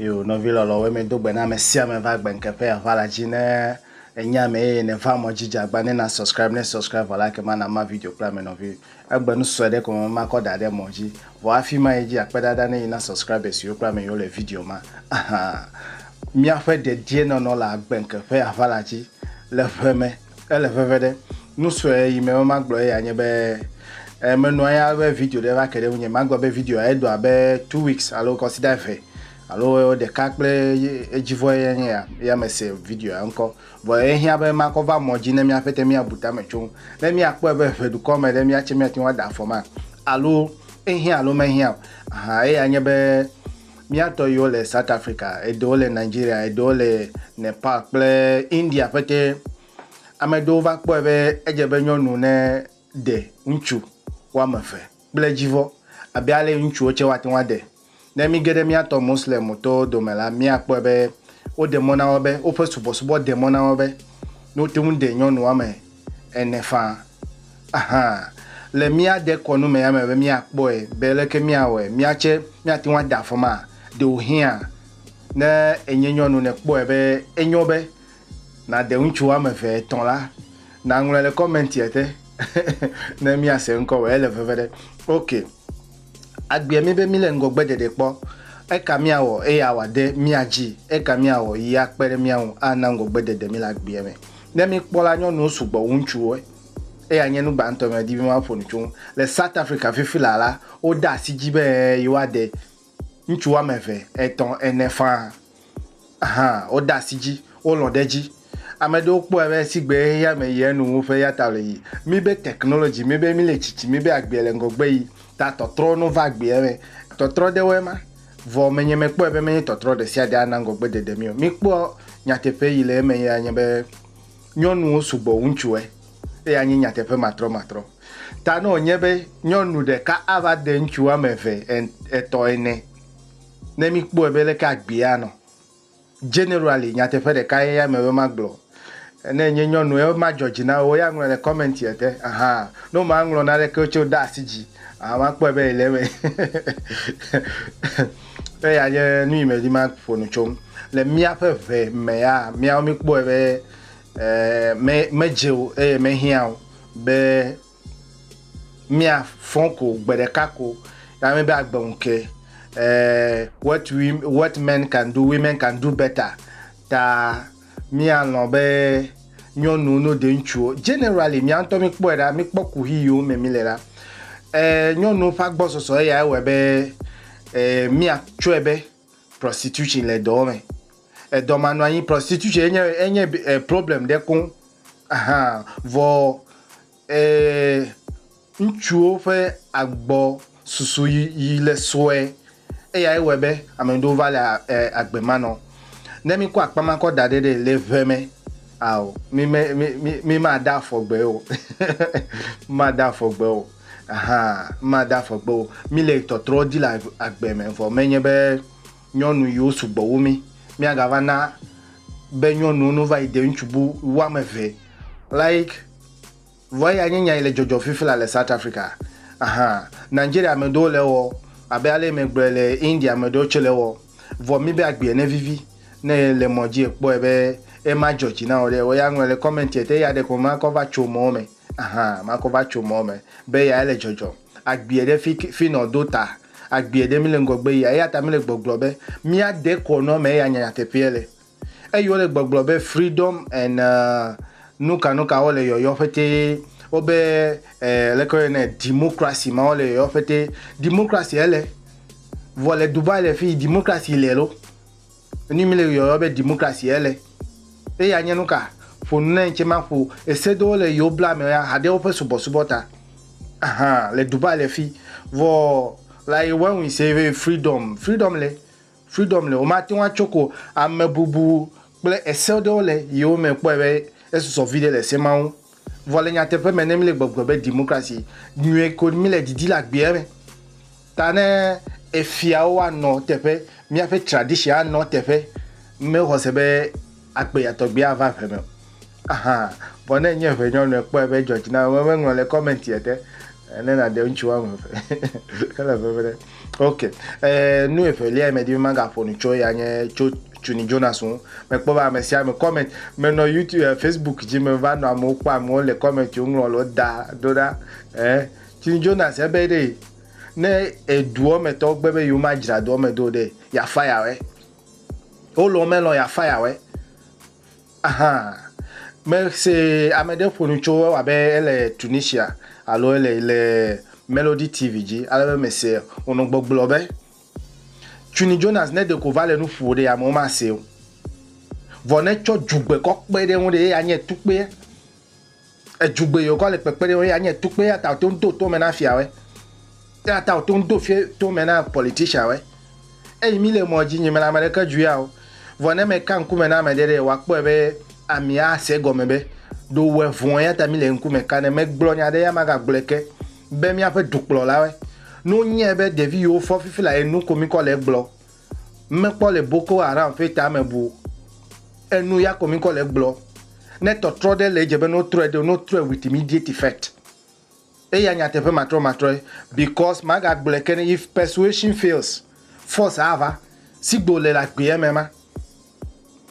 Yo nɔvi lɔlɔwo mi do gbe na ame sia ame va gbenke ƒe ava la dzi ne enya me eye ne va mɔ dzi jagba ne na subscribe ne subscribe vɔ la ke ma na ma video kple ame nɔvi egbe nu sɔe ɖe ko me ma kɔ da ɖe mɔ dzi vɔ afi ma edzi akpe dada ne yi na subscribe siwo kple ame yiwo le video ma aha miaƒe dedie nɔnɔ le agbenke ƒe ava la dzi le ʋe me Ele veve ɖe. Nu sue yi me be magblɔ eya nye be e menɔ anyi ale be video ɖe va ke ɖe ŋunye. Magblɔ be videoa edo abe two weeks alo kɔsida eve alo ɖeka kple edzi vɔ ye nye ya ya mese videoa ŋkɔ. Vɔ ehiã be makɔ va mɔ dzi ne míaƒe te míabu tame tso ŋu. Ne míakpɔe be ʋe dukɔ me ɖe míatse míate ŋu ada afɔ ma alo ehiã alo mehiã o. Aha eya nye be. Mía tɔ yiwo le South Africa, eɖewo le Nigeria, eɖewo le Nepal kple India ƒete. Ame ɖewo va kpɔe be edze be nyɔnu ne ɖe ŋutsu woame eve kple dzivɔ abe ale yi ŋutsuwo tse woate ŋu aɖe. Ne mí ge ɖe mía tɔ Moslem tɔwo dome la, mía kpɔe be woɖe mɔ na wo be, woƒe subɔsubɔ ɖe mɔ na wo be, ne wote ŋu ɖe nyɔnu woame ene faa. Ahan, le mía dekɔnu me ya me be míakpɔe be leke míawɔe mía tsɛ míate ŋu ada afɔ maa? Ɖewohĩa, ne ènye nyɔnu nèkpɔe be enyo be nàde ŋutsu woame eve, etɔ̃ la, nàŋlɔe le kɔmɛntia te ne míase ŋkɔwò. Ele veve ɖe? Ok. Agbea mí be mílé ŋgɔgbeɖeɖe kpɔ. Eka míawɔ eye awɔ ade mía dzi? Eka míawɔ yi akpe ɖe mía ŋu ana ŋgɔgbeɖeɖe mí le agbea me? Ne míkpɔ la, nyɔnuwo sugbɔ wu ŋutsuwo. Eya nye nu gbãtɔ medi be maƒo nu tso eŋu. Le South Africa fifi laa la, wode asi edzi be ɛɛ yewoade ŋutsu woame eve, etɔ̃, ene faa. Hã, wode asi dzi, wolɔ̃ ɖe edzi. Ame aɖewo kpɔe be sigbe xexea me yia enu wu ƒe ya ta wòle yiyim. Míbe technology, míbe míle tsitsi, míbe agbea le ŋgɔgbe yim ta tɔtrɔ no va agbea me. Tɔtrɔ ɖewoe ma. Vɔ menye mekpɔe be menye tɔtrɔ ɖe sia ɖe ana ŋgɔgbe dede mí o. Míkpɔ nyateƒe yi le eme ye anye be nyɔnuwo sugbɔ wu ŋutsuwoe. Eya nye nyateƒe matrɔmatrɔ. Ta ne wònye be nyɔnu ɖeka ava de ŋutsu woame eve, etɔ̃, ene Ne míkpɔe be leke agbee anɔ, generally nyateƒe ɖeka ye ya me be magblɔ. Ne enye nyɔnu ye madzɔ dzi na wò, ya ŋlɔe le comment ya te. Aha. Ne womaŋlɔ naneke tse wode asi dzi aa makpɔe be ele eme. Eya nye nu yi medi maƒo nu tso ŋu. Le míaƒe ʋe mea, míawo míkpɔe be eh, me, medze o eye mehiã o be Mia fɔn ko gbe ɖeka ko na mi be agbe ŋu ke. Eh, what we what men can do, women can do better. Ta mia lɔn be nyɔnuwo no de ŋutsuwo. Generally, mia ŋutɔ mi kpɔe ɖa, mi kpɔ kuhi yiwo me mi le ɖa. Eh, nyɔnuwo ƒe agbɔsɔsɔ eya ewɔe be eh, mia tsɔe be prostitution le dɔwo me. Edɔ manɔ anyi prostitution enye enye eh, problem ɖe koŋ. Ahan vɔ eh, ŋutsuwo ƒe agbɔ susu yi, yi le sue eyae wɔe be ame ɖewo va le eh, agbe manɔ. Ne mi kɔ akpa ma kɔ da ɖe ɖe le ʋe me ao mi me mi mi ma da afɔ gbe o, ma da afɔ gbe o. Aha, made afɔ gbe o. Míle tɔtrɔ di le agbe me, vɔ menye be nyɔnu yiwo sugbɔ wu mí. Míagava na be nyɔnuwo no va yi de ŋutsu bu wu ame eve like vɔ eya nye nya yi le dzɔdzɔ fifila le South Africa. Aha, Nigeria ame ɖewo le ewɔ abe ale yi megblɔe le India ame ɖewo tse le ewɔ. Vɔ míbe agbea ne vivi ne le mɔ dzi ekpɔe be ema dzɔ dzi na wò ɖe, wò ya ŋlɔe le commentie te eya ɖeko makɔ va tso mɔwo me. Ahan makɔ va tso mɔ me be ya ele dzɔdzɔm. Agbie ɖe fi fi nɔ do ta agbie ɖe mi le ŋgɔgbe yia eya ta mi le gbɔgblɔ be mia de kɔ nɔ me ya nya nyateƒeɛ le. Eyi wole gbɔgblɔ be freedom and nuka nuka wole yɔyɔ ƒetee wo be eh leke wo yɔnɛ democracy ma wole yɔyɔ ƒetee democracy ele vɔ le Dubai le fi democracy le lo. Enu mi le yɔyɔ be democracy ye le. Eya nye nuka? Ƒo nu na ŋtsɛ maƒo ese ɖewo le yewo bla me ya haɖe woƒe subɔsubɔ ta. Aha, le Dubai le fi. Vɔ like when we say be freedom, freedom le, freedom le. Womate ŋu atso ko amebubu kple ese ɖewo le yewo me kpɔe be esɔsɔ viɖe le ese ma ŋu. Vɔ le nyateƒe me, ne míle gbɔgblɔ be demokrasi nyuie ko míle didi le agbeɛ me ta ne efiawo anɔ teƒe, míaƒe tradition anɔ teƒe, mexɔ se be agbeya tɔgbi ava ŋe me o. Aha! Vɔ ne enye ŋe nyɔnu ekpɔe be edzɔ dzi nam, meŋlɔ le comment ete ne nàde ŋutsu woame eve hele ŋeŋe ɖe. Ok, eh, nu evelia yi medi be magaƒo nu tso ya nye tso Tuni Jonas ŋu. Mekpɔ be ame sia ame comment menɔ YouTube eh, Facebook dzi meva nɔ amewo kpɔm amewo le comment wo ŋlɔ lo da do ɖa. Eh, Tuni Jonas ebe ɖe ne eduɔ me tɔwo gbe be yewo ma dzra doɔ me do ɖe ya fire wɛ. Wo lɔ melɔ ya fire wɛ. Ahã, mese ame ɖe ƒo nu tso ewɔ abe ele Tunisia alo ele le Melody TV dzi ale be mese wònɔ gbɔgblɔ be, Tuni Jonas ne ɖeko va le nu ƒo ɖe amewo masee o. Vɔ ne tsɔ dzugbekɔkpe ɖe ŋu ɖe ye anye tukpea. Edzugbe yi wòkɔ le kpekpe ɖe wo ya nye tukpe eya ta wòto ŋu do tome na fiawoe. Eya ta wòto ŋu do fie tome na politicianwoe. Eyi mí le mɔ dzi nyi mela ame ɖeke dzu ya o. Vɔ ne meka ŋkume na ame ɖe ɖe, wòakpɔe be ami asee gɔme be ɖo wòwɔe vɔ̃ eya ta mí le ŋkume ka ne. Megblɔ nya ɖe eya magagblɔe ke be míaƒe dukplɔlawoe. Ne wonyae be ɖevi yi wofɔ fifi la ye nu ko mí kɔ le egblɔ Mekpɔ le Boko Haram ƒe tame bu enu ya ko mi kɔ le gblɔ. Ne tɔtrɔ ɖe le edze be no trɔe ɖeo no trɔe with immediate effect. Eya nyateƒe matrɔ matrɔe because maga gblɔe ke ne if persuasion fails force ava. Sigbe wole le agbeame ma.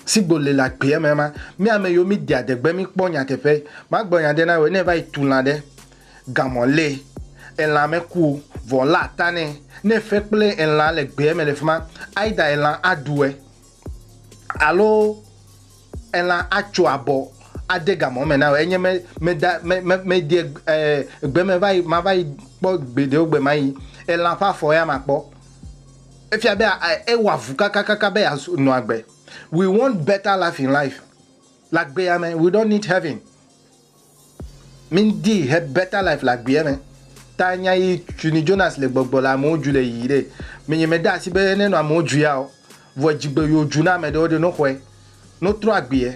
Si gbo le le agbeɛ me ma, mí ame yiwo mí de adegbe mí kpɔ nyateƒe. Ma gblɔ nya ɖe na wòe, ne èva yi tu lã ɖe, gamɔ lée, elã me ku o, vɔ lé ata nɛ, ne èfe kple elã le gbeɛ me le fima, ayi ɖa elã aɖu ɛ, alo elã atso abɔ ade gamɔ me na wòe, enye me, meda, me, me, mede ɛ, ɛ, gbe me va yi, ma va yi kpɔ gbeɖewo gbe ma yi, elã ƒe afɔ ya makpɔ. Efia be ewɔ avu kakakaka be yeanɔ agbe. We want better life in life. Le agbea me, we don't need heaven. Mindi he better life le agbea me. Ta nya yi tuni Jonas le gbɔgbɔ le amewo dzu le yiyi ɖe. Menye me da asi be nenɔ amewo dzu ya o. Vɔ edzigbe yo dzu na ame ɖewo ɖe no xɔe. No trɔ agbea.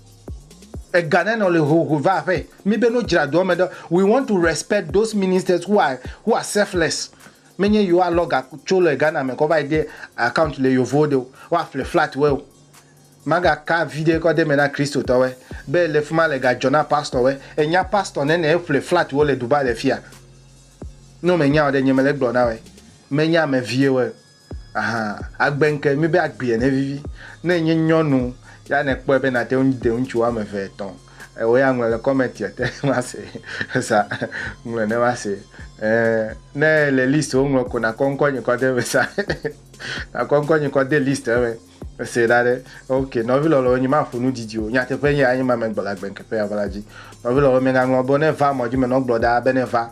Ega ne nɔ le ho ho va aƒe mi be no dzra doa me ɖo we want to respect those ministers who are who are selfless me nye yewo a lɔ ga tso le Ghana me kɔ va yi de account le yovowo de o wa ƒle flat wɛ o ma ga ka vi ɖe kɔ de me na Christo tɔ wɛ be le fima le ga dzɔ na pastor wɛ e nya pastor ne ne e ƒle flat wo le Dubai le fia no me nya o ɖe nye me le gblɔ na wɛ me nya ame vie wɛ o. Aha, agbe ŋke mi be agbea ne vivi. Ne enye nyɔnu ya ne kpɔe be nate ŋu de ŋutsu woame eve etɔ̃ eo ya ŋlɔ le kɔmɛntia te ma se sa ŋlɔ ne ma se e ne le list wo ŋlɔ ko na kɔ ŋkɔ nye kɔ de me sa na kɔ ŋkɔ nye kɔ de list eme se da ɖe ok nɔvi lɔlɔ nye ma ƒo nu didi o nyateƒe nye anyi ma me gbɔ la gbe ŋke ƒe ya va la dzi nɔvi lɔlɔ me ŋa ŋlɔ bo ne va mɔ dzi me nɔ gblɔ da be ne va